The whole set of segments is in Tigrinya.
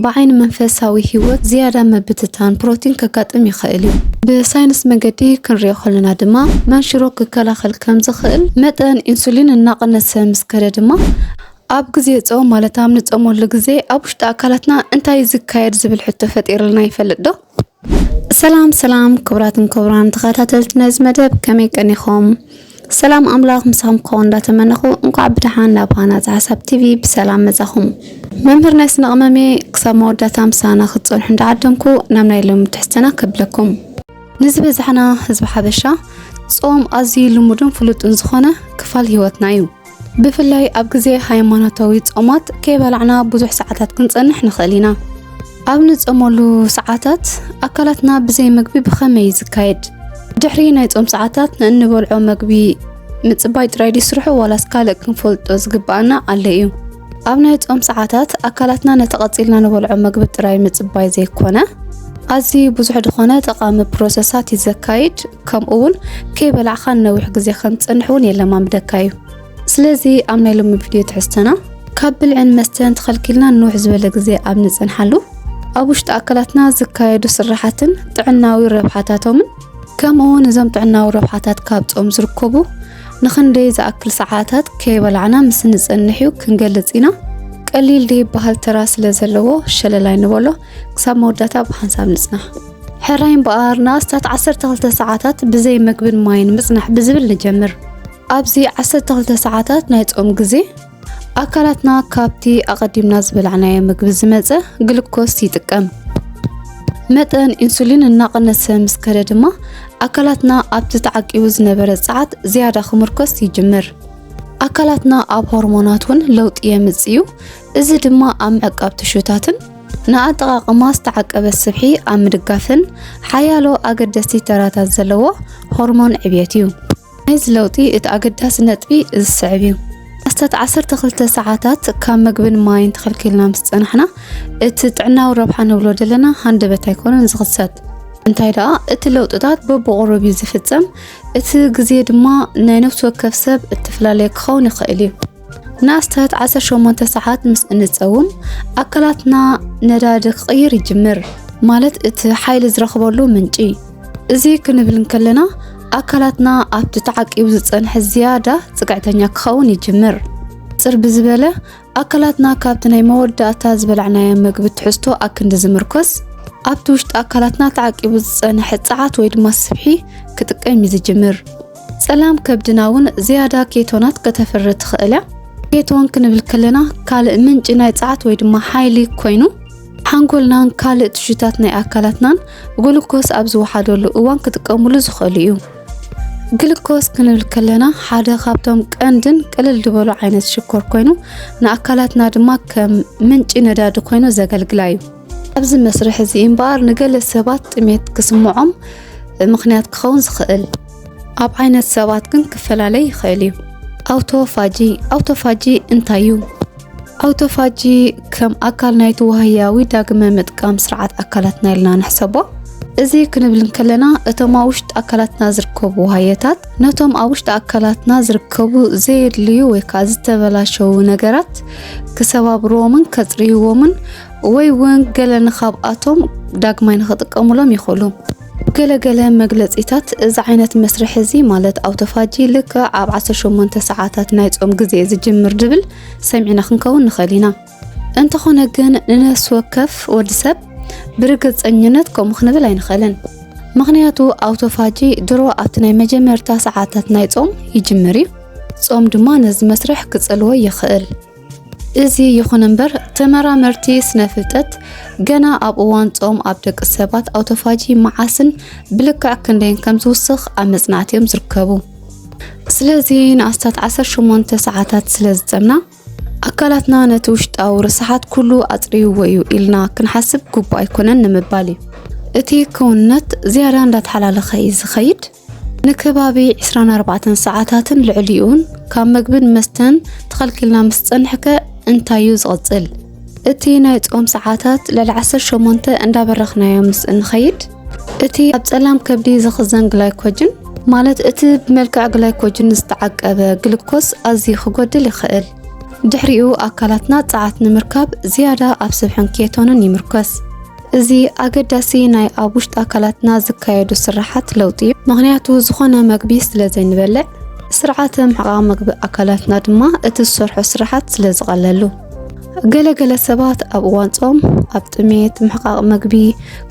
ብዓይኒ መንፈሳዊ ህይወት ዝያዳ ምብትታን ፕሮቲን ከጋጥም ይኽእል እዩ። ብሳይንስ መገዲ ክንሪኦ ከለና ድማ መንሽሮ ክከላኸል ከም ዝኽእል፣ መጠን ኢንሱሊን እናቐነሰ ምስ ከደ ድማ ኣብ ግዜ ጾም ማለት ኣብ ንጾመሉ ግዜ ኣብ ውሽጢ ኣካላትና እንታይ እዩ ዝካየድ ዝብል ሕቶ ፈጢርልና ይፈልጥ ዶ? ሰላም ሰላም ክቡራትን ክቡራን ተኸታተልቲ ነዚ መደብ ከመይ ቀኒኹም? ሰላም ኣምላኽ ምሳኹም ክኸውን እንዳተመነኹ እንኳዕ ብደሓን ናብ ሃናፂ ሓሳብ ቲቪ ብሰላም መፃኹም። መምህር ናይ ስነ ቅመሜ ክሳብ መወዳእታ ምሳና ክትፀንሑ እንዳዓደምኩ ናብ ናይ ሎሚ ትሕዝተና ከብለኩም። ንዝበዛሕና ህዝቢ ሓበሻ ፆም ኣዝዩ ልሙድን ፍሉጥን ዝኾነ ክፋል ህይወትና እዩ። ብፍላይ ኣብ ግዜ ሃይማኖታዊ ጾማት ከይበላዕና ብዙሕ ሰዓታት ክንጸንሕ ንኽእል ኢና። ኣብ ንጸመሉ ሰዓታት ኣካላትና ብዘይ መግቢ ብኸመይ እዩ ዝካየድ? ድሕሪ ናይ ጾም ሰዓታት ንእንበልዖ መግቢ ምጽባይ ጥራይ ድዩ ስርሑ ዋላስ ካልእ ክንፈልጦ ዝግብኣና ኣሎ እዩ? ኣብ ናይ ጾም ሰዓታት ኣካላትና ነቲ ቀጺልና ንበልዖ መግቢ ጥራይ ምጽባይ ዘይኮነ ኣዝዩ ብዙሕ ዝኾነ ጠቓሚ ፕሮሰሳት እዩ ዘካይድ። ከምኡ እውን ከይበላዕካ ንነዊሕ ግዜ ከም ትፀንሕ እውን የለማምደካ እዩ ስለዚ ኣብ ናይ ሎሚ ቪድዮ ትሕዝተና ካብ ብልዕን መስተን ተኸልኪልና ንውሕ ዝበለ ግዜ ኣብ ንፅንሓሉ ኣብ ውሽጢ ኣካላትና ዝካየዱ ስራሓትን ጥዕናዊ ረብሓታቶምን ከምኡ እውን እዞም ጥዕናዊ ረብሓታት ካብ ፆም ዝርከቡ ንክንደይ ዝኣክል ሰዓታት ከይበላዕና ምስ ንፅንሕ እዩ ክንገልፅ ኢና ቀሊል ድይበሃል ተራ ስለ ዘለዎ ሸለላይ ንበሎ ክሳብ መወዳእታ ብሓንሳብ ንጽናሕ። ሕራይ እምበኣር ንኣስታት 12 ሰዓታት ብዘይ መግብን ማይን ምጽናሕ ብዝብል ንጀምር። ኣብዚ 12 ሰዓታት ናይ ጾም ግዜ ኣካላትና ካብቲ ኣቐዲምና ዝበላዕናዮ ምግቢ ዝመጸ ግሉኮስ ይጥቀም። መጠን ኢንሱሊን እናቐነሰ ምስ ከደ ድማ ኣካላትና ኣብቲ ተዓቂቡ ዝነበረ ጸዓት ዝያዳ ክምርኮስ ይጅምር። ኣካላትና ኣብ ሆርሞናት እውን ለውጢ የምጽእ እዩ። እዚ ድማ ኣብ ምዕቃብ ትሹታትን ንኣጠቓቕማ ዝተዓቀበ ስብሒ ኣብ ምድጋፍን ሓያሎ ኣገደስቲ ተራታት ዘለዎ ሆርሞን ዕብየት እዩ። ናይዚ ለውጢ እቲ ኣገዳሲ ነጥቢ ዝስዕብ እዩ። ኣስታት 12 ሰዓታት ካብ ምግብን ማይን ተኸልኪልና ምስ ጸናሕና እቲ ጥዕናዊ ረብሓ ንብሎ ዘለና ሃንደበት ኣይኮነን ዝኽሰት። እንታይ ደኣ እቲ ለውጥታት በብቑሩብ እዩ ዝፍጸም፣ እቲ ግዜ ድማ ናይ ነፍሲ ወከፍ ሰብ እተፈላለየ ክኸውን ይኽእል እዩ። ንኣስታት 18 ሰዓት ምስ እንጸውም ኣካላትና ነዳዲ ክቕይር ይጅምር፣ ማለት እቲ ሓይሊ ዝረኽበሉ ምንጪ። እዚ ክንብል እንከለና ኣካላትና ኣብቲ ተዓቂቡ ዝጸንሐ ዝያዳ ጽግዕተኛ ክኸውን ይጅምር። ጽር ብዝበለ ኣካላትና ካብቲ ናይ መወዳእታ ዝበላዕናዮ መግቢ ትሕዝቶ ኣክንዲ ዝምርኮስ ኣብቲ ውሽጢ ኣካላትና ተዓቂቡ ዝጸንሐ ጸዓት ወይ ድማ ስብሒ ክጥቀም እዩ ዝጅምር። ጸላም ከብድና እውን ዝያዳ ኬቶናት ከተፍሪ ትኽእል እያ። ኬቶን ክንብል ከለና ካልእ ምንጪ ናይ ጸዓት ወይ ድማ ሓይሊ ኮይኑ ሓንጎልናን ካልእ ትሹታት ናይ ኣካላትናን ግሉኮስ ኣብ ዝወሓደሉ እዋን ክጥቀሙሉ ዝኽእሉ እዩ። ግሉኮስ ክንብል ከለና ሓደ ካብቶም ቀንድን ቅልል ዝበሉ ዓይነት ሽኮር ኮይኑ ንኣካላትና ድማ ከም ምንጪ ነዳዲ ኮይኑ ዘገልግላ እዩ። ኣብዚ መስርሕ እዚ እምበኣር ንገለ ሰባት ጥሜት ክስምዖም ምኽንያት ክኸውን ዝኽእል ኣብ ዓይነት ሰባት ግን ክፈላለ ይኽእል እዩ። ኣውቶፋጂ ኣውቶፋጂ እንታይ እዩ? ኣውቶፋጂ ከም ኣካል ናይቲ ዋህያዊ ዳግመ ምጥቃም ስርዓት ኣካላትና ኢልና ንሕሰቦ። እዚ ክንብል እንከለና እቶም ኣብ ውሽጢ ኣካላትና ዝርከቡ ዋህየታት ነቶም ኣብ ውሽጢ ኣካላትና ዝርከቡ ዘየድልዩ ወይ ከዓ ዝተበላሸዉ ነገራት ክሰባብርዎምን ከፅርይዎምን ወይ እውን ገለ ንካብኣቶም ዳግማይ ንክጥቀሙሎም ይኽእሉ። ገለገለ መግለጺታት እዚ ዓይነት መስርሕ እዚ ማለት ኣውቶፋጂ ልክዕ ኣብ 18 ሰዓታት ናይ ጾም ግዜ ዝጅምር ድብል ሰሚዕና ክንከውን ንኽእል ኢና። እንተኾነ ግን ንነፍሲ ወከፍ ወዲ ሰብ ብርግጸኝነት ከምኡ ክንብል ኣይንኽእልን። ምኽንያቱ ኣውቶፋጂ ድሮ ኣብቲ ናይ መጀመርታ ሰዓታት ናይ ጾም ይጅምር እዩ። ጾም ድማ ነዚ መስርሕ ክጸልዎ ይኽእል። እዚ ይኹን እምበር ተመራመርቲ ስነ ፍልጠት ገና ኣብ እዋን ጾም ኣብ ደቂ ሰባት ኣውቶፋጂ መዓስን ብልክዕ ክንደይን ከም ዝውስኽ ኣብ መጽናዕቲ እዮም ዝርከቡ። ስለዚ ንኣስታት 18 ሰዓታት ስለ ዝጸምና ኣካላትና ነቲ ውሽጣዊ ርስሓት ኩሉ ኣጽርይዎ እዩ ኢልና ክንሓስብ ግቡእ ኣይኮነን ንምባል እዩ እቲ ክውንነት ዝያዳ እንዳተሓላለኸ እዩ ዝኸይድ ንከባቢ ዕስራን ኣርባዕተን ሰዓታትን ልዕሊኡን ካብ መግብን መስተን ተኸልኪልና ምስ ጸንሕከ እንታዩ ዝቕጽል? እቲ ናይ ጾም ሰዓታት ልዕሊ ዓሰርተ ሸሞንተ እንዳበረኽናዮ ምስ እንኸይድ እቲ ኣብ ጸላም ከብዲ ዝኽዘን ግላይኮጅን ማለት እቲ ብመልክዕ ግላይኮጅን ዝተዓቀበ ግልኮስ ኣዝዩ ክጎድል ይኽእል። ድሕሪኡ ኣካላትና ጸዓት ንምርካብ ዝያዳ ኣብ ስብሕን ኬቶንን ይምርኮስ። እዚ ኣገዳሲ ናይ ኣብ ውሽጢ ኣካላትና ዝካየዱ ስራሓት ለውጢ እዩ። ምክንያቱ ዝኾነ መግቢ ስለ ዘይንበልዕ ስርዓተ ምሕቓቕ መግቢ ኣካላትና ድማ እቲ ዝሰርሖ ስራሓት ስለ ዝቐለሉ። ገለገለ ሰባት ኣብ እዋን ጾም ኣብ ጥሜት ምሕቃቕ መግቢ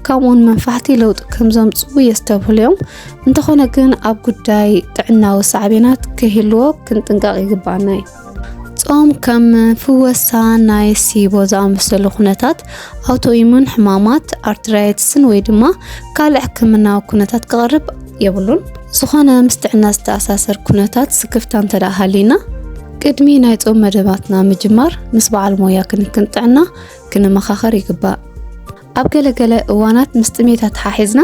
ከምኡውን መንፋሕቲ ለውጢ ከም ዘምፅኡ የስተብህሉ እዮም። እንተኾነ ግን ኣብ ጉዳይ ጥዕናዊ ሳዕቤናት ከይህልዎ ክንጥንቀቕ ይግባኣና እዩ። ጾም ከም ፍወሳ ናይ ሲቦ ዝኣመሰሉ ኩነታት ኣውቶኢሙን ሕማማት ኣርትራይትስን ወይ ድማ ካልእ ሕክምናዊ ኩነታት ክቐርብ የብሉን። ዝኾነ ምስ ጥዕና ዝተኣሳሰር ኩነታት ስክፍታ እንተደኣ ሃልዩና ቅድሚ ናይ ጾም መደባትና ምጅማር ምስ በዓል ሞያ ክንክን ጥዕና ክንመኻኸር ይግባእ። ኣብ ገለ ገለ እዋናት ምስ ጥሜታ ተሓሒዝና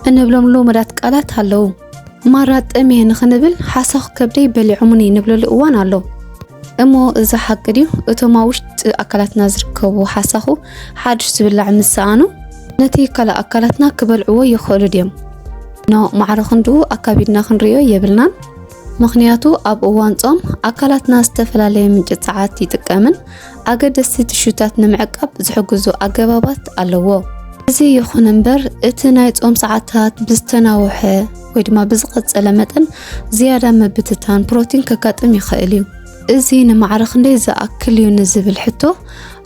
እንብሎም ልሙዳት ቃላት ኣለዉ። ማራ ጠምየ ንኽንብል ሓሳኹ ከብደይ በሊዖሙኒ ንብለሉ እዋን ኣሎ። እሞ እዚ ሓቂ ድዩ? እቶም ኣብ ውሽጢ ኣካላትና ዝርከቡ ሓሳኹ ሓድሽ ዝብላዕ ምስ ሰኣኑ ነቲ ካልእ ኣካላትና ክበልዕዎ ይኽእሉ ድዮም? ኖ፣ ማዕረ ክንድኡ ኣካቢድና ክንርእዮ የብልናን። ምኽንያቱ ኣብ እዋን ጾም ኣካላትና ዝተፈላለየ ምንጪ ጸዓት ይጥቀምን ኣገደስቲ ትሹታት ንምዕቃብ ዝሕግዙ ኣገባባት ኣለዎ። እዚ ይኹን እምበር እቲ ናይ ጾም ሰዓታት ብዝተናውሐ ወይ ድማ ብዝቐጸለ መጠን ዝያዳ ምብትታን ፕሮቲን ከጋጥም ይኽእል እዩ። እዚ ንማዕረ ክንደይ ዝኣክል እዩ ንዝብል ሕቶ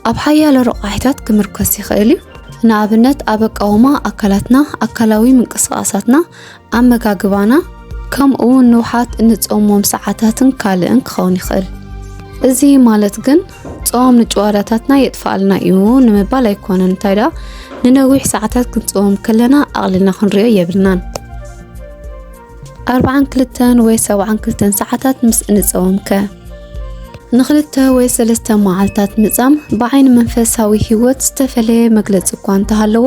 ኣብ ሓያለ ረቋሒታት ክምርኮስ ይኽእል እዩ። ንኣብነት ኣብ ኣቃውማ ኣካላትና፣ ኣካላዊ ምንቅስቓሳትና፣ ኣመጋግባና ከምኡውን ንውሓት እንጾሞም ሰዓታትን ካልእን ክኸውን ይኽእል። እዚ ማለት ግን ጾም ንጭዋዳታትና የጥፍኣልና እዩ ንምባል ኣይኮነን። እንታይ ደኣ ንነዊሕ ሰዓታት ክንጾም ከለና ኣቕሊልና ክንሪኦ የብልናን። ኣርባዓን ክልተን ወይ ሰብዓን ክልተን ሰዓታት ምስ እንጸወም ከ ንክልተ ወይ ሰለስተ መዓልታት ምጻም ብዓይኒ መንፈሳዊ ህይወት ዝተፈለየ መግለጺ እኳ እንተሃለዎ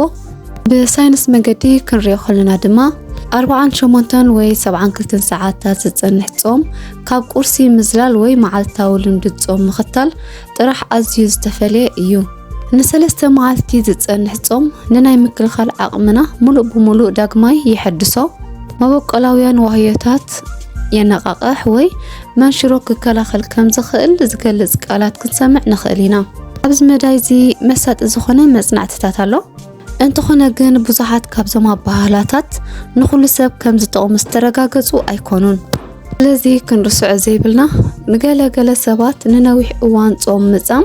ብሳይንስ መገዲ ክንሪኦ ከለና ድማ ኣርባዓን ሸሞንተን ወይ ሰብዓን ክልተን ሰዓታት ዝፀንሕ ጾም ካብ ቁርሲ ምዝላል ወይ መዓልታዊ ልምዲ ጾም ምኽታል ጥራሕ ኣዝዩ ዝተፈለየ እዩ። ንሰለስተ መዓልቲ ዝፀንሕ ጾም ንናይ ምክልኻል ዓቕምና ሙሉእ ብሙሉእ ዳግማይ የሐድሶ፣ መበቆላውያን ዋህዮታት የነቓቕሕ ወይ መንሽሮ ክከላኸል ከም ዝኽእል ዝገልጽ ቃላት ክንሰምዕ ንኽእል ኢና። ኣብዚ መዳይ እዚ መሳጢ ዝኾነ መጽናዕትታት ኣሎ። እንተኾነ ግን ብዙሓት ካብዞም ኣበሃህላታት ንኹሉ ሰብ ከም ዝጠቕሙ ዝተረጋገጹ ኣይኮኑን። ስለዚ ክንርስዖ ዘይብልና ንገለ ገለ ሰባት ንነዊሕ እዋን ጾም ምጻም፣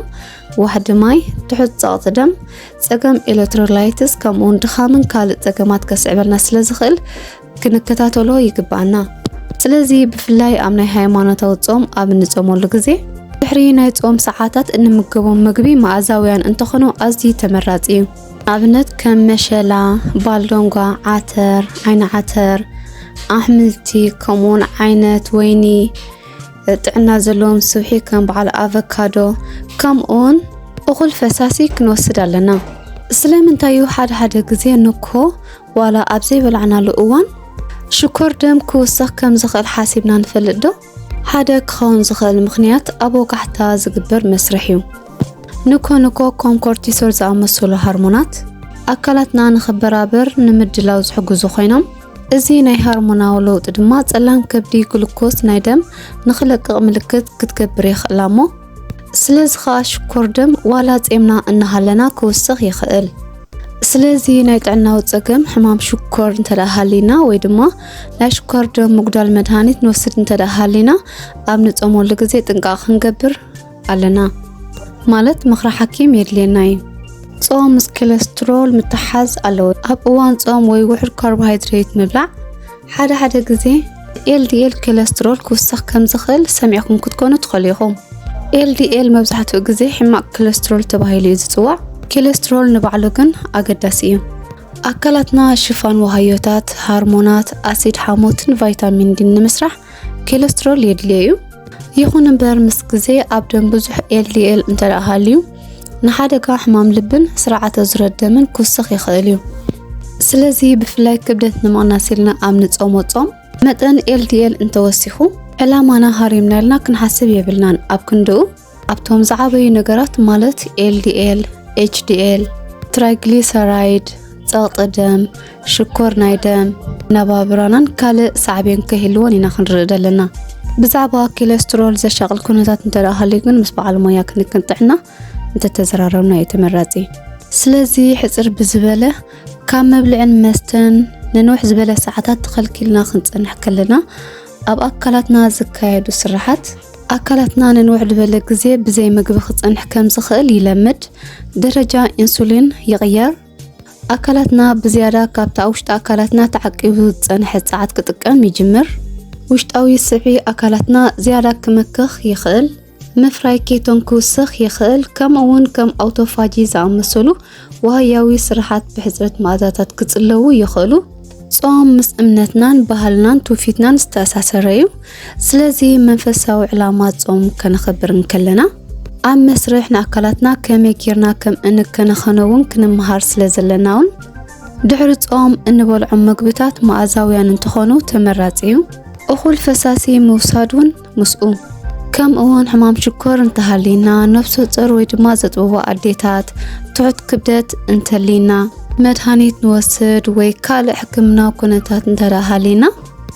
ዋሕዲ ማይ፣ ትሑት ጸቕጢ ደም፣ ጸገም ኤሌክትሮላይትስ ከምኡውን ድኻምን ካልእ ጸገማት ከስዕበልና ስለ ዝኽእል ክንከታተሎ ይግባኣና። ስለዚ ብፍላይ ኣብ ናይ ሃይማኖታዊ ጾም ኣብ እንጾመሉ ግዜ ድሕሪ ናይ ጾም ሰዓታት እንምገቦም ምግቢ መኣዛውያን እንተኾኑ ኣዝዩ ተመራጺ እዩ። ንኣብነት ከም መሸላ፣ ባልዶንጓ፣ ዓተር፣ ዓይኒ ዓተር፣ ኣሕምልቲ ከምኡውን ዓይነት ወይኒ ጥዕና ዘለዎም ስብሒ ከም በዓል ኣቨካዶ ከምኡውን እኹል ፈሳሲ ክንወስድ ኣለና። ስለምንታይ እዩ ሓደ ሓደ ግዜ ንኮ ዋላ ኣብ ዘይበላዕናሉ እዋን ሽኮር ደም ክውሰኽ ከም ዝኽእል ሓሲብና ንፈልጥ ዶ? ሓደ ክኸውን ዝኽእል ምኽንያት ኣብ ወጋሕታ ዝግበር መስርሕ እዩ። ንኮ ንኮ ኮም ኮርቲሶል ዝኣመሰሉ ሃርሞናት ኣካላትና ንኽበራበር ንምድላው ዝሕግዙ ኮይኖም እዚ ናይ ሃርሞናዊ ለውጢ ድማ ጸላም ከብዲ ግሉኮስ ናይ ደም ንኽለቅቕ ምልክት ክትገብር የኽእላ እሞ ስለዚ ኸኣ ሽኮር ደም ዋላ ጼምና እናሃለና ክውስኽ ይኽእል። ስለዚ ናይ ጥዕናዊ ጸገም ሕማም ሽኮር እንተ ሃሊና ወይ ድማ ናይ ሽኮር ደም ምጉዳል መድሃኒት ንወስድ እንተ ሃሊና ኣብ ንጾመሉ ግዜ ጥንቃቕ ክንገብር ኣለና ማለት ምኽሪ ሓኪም የድልየና እዩ። ጾም ምስ ኮለስትሮል ምትሓዝ ኣለዎ። ኣብ እዋን ጾም ወይ ውሑድ ካርቦሃይድሬት ምብላዕ ሓደ ሓደ ግዜ ኤልዲኤል ኮለስትሮል ክውስኽ ከም ዝኽእል ሰሚዕኩም ክትኮኑ ትኽእሉ ኢኹም። ኤልዲኤል መብዛሕትኡ ግዜ ሕማቕ ኮለስትሮል ተባሂሉ እዩ ዝጽዋዕ፣ ኮለስትሮል ንባዕሉ ግን ኣገዳሲ እዩ። ኣካላትና ሽፋን ዋሃዮታት፣ ሃርሞናት፣ ኣሲድ ሓሞትን ቫይታሚን ዲን ንምስራሕ ኮለስትሮል የድልዮ እዩ። ይኹን እምበር ምስ ግዜ ኣብ ደም ብዙሕ ኤልዲኤል እንተደኣ ሃልዩ ንሓደጋ ሕማም ልብን ስርዓተ ዙረት ደምን ክውስኽ ይኽእል እዩ። ስለዚ ብፍላይ ክብደት ንምቕናስ ኢልና ኣብ ንጾሞ ጾም መጠን ኤልዲኤል እንተወሲኹ ዕላማና ሃሪምና ኢልና ክንሓስብ የብልናን። ኣብ ክንድኡ ኣብቶም ዝዓበዩ ነገራት ማለት ኤልዲኤል፣ ኤችዲኤል፣ ትራይግሊሰራይድ፣ ጸቕጢ ደም፣ ሽኮር ናይ ደም ነባብራናን ካልእ ሳዕቤን ከይህልዎን ኢና ክንርኢ ዘለና ብዛዕባ ኪለስትሮል ዘሻቕል ኩነታት እንተደኣሃልዩ ግን ምስ በዓል ሞያ ክንክን ጥዕና እንተተዘራረብና እዩ ተመራጺ ስለዚ ሕፅር ብዝበለ ካብ መብልዕን መስተን ንንውሕ ዝበለ ሰዓታት ተኸልኪልና ክንፀንሕ ከለና ኣብ ኣካላትና ዝካየዱ ስራሓት ኣካላትና ንንውሕ ዝበለ ግዜ ብዘይ ምግቢ ክፀንሕ ከም ዝኽእል ይለምድ ደረጃ ኢንሱሊን ይቕየር ኣካላትና ብዝያዳ ካብቲ ኣብ ውሽጢ ኣካላትና ተዓቂቡ ዝጸንሐ ጸዓት ክጥቀም ይጅምር። ውሽጣዊ ስዒ ኣካላትና ዝያዳ ክመክኽ ይኽእል፣ ምፍራይ ኬቶን ክውስኽ ይኽእል፣ ከምኡውን ከም ኣውቶፋጂ ዝኣመሰሉ ዋህያዊ ስርሓት ብሕጽረት መኣዛታት ክጽለዉ ይኽእሉ። ጾም ምስ እምነትናን ባህልናን ትውፊትናን ዝተኣሳሰረ እዩ። ስለዚ መንፈሳዊ ዕላማ ጾም ከነኸብር እንከለና ኣብ መስርሕ ንኣካላትና ከመይ ጌርና ከም እንከናኸኖ እውን ክንምሃር ስለ ዘለና እውን ድሕሪ ጾም እንበልዖም መግብታት መኣዛውያን እንትኾኑ ተመራጺ እዩ። እኹል ፈሳሲ ምውሳድ እውን ምስኡ ከም እውን ሕማም ሽኮር እንተሃሊና ነፍሰ ጾር ወይ ድማ ዘጥብቦ ኣዴታት ትሑት ክብደት እንተሊና መድሃኒት ንወስድ ወይ ካልእ ሕክምና ኩነታት እንተዳሃሊና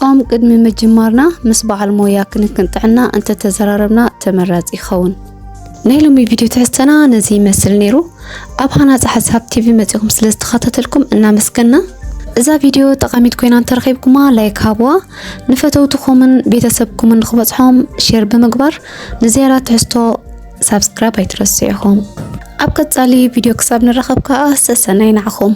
ኦም ቅድሚ ምጅማርና ምስ በዓል ሞያ ክንክን ጥዕና እንተተዘራረብና ተመራፂ ይኸውን ናይ ሎሚ ቪድዮ ትሕዝተና ነዚ ይመስል ነይሩ ኣብ ሃናፂ ሓሳብ ቲቪ መፂኹም ስለ ዝተኸታተልኩም እናመስገና እዛ ቪድዮ ጠቃሚት ኮይና እንተረኺብኩማ ላይክ ሃብዋ ንፈተውትኹምን ቤተሰብኩምን ንክበፅሖም ሼር ብምግባር ንዝያዳ ትሕዝቶ ሳብስክራይብ ኣይትረስዑ ኢኹም። ኣብ ቀጻሊ ቪድዮ ክሳብ ንራኸብ ከዓ ሰሰናይ ንዓኹም።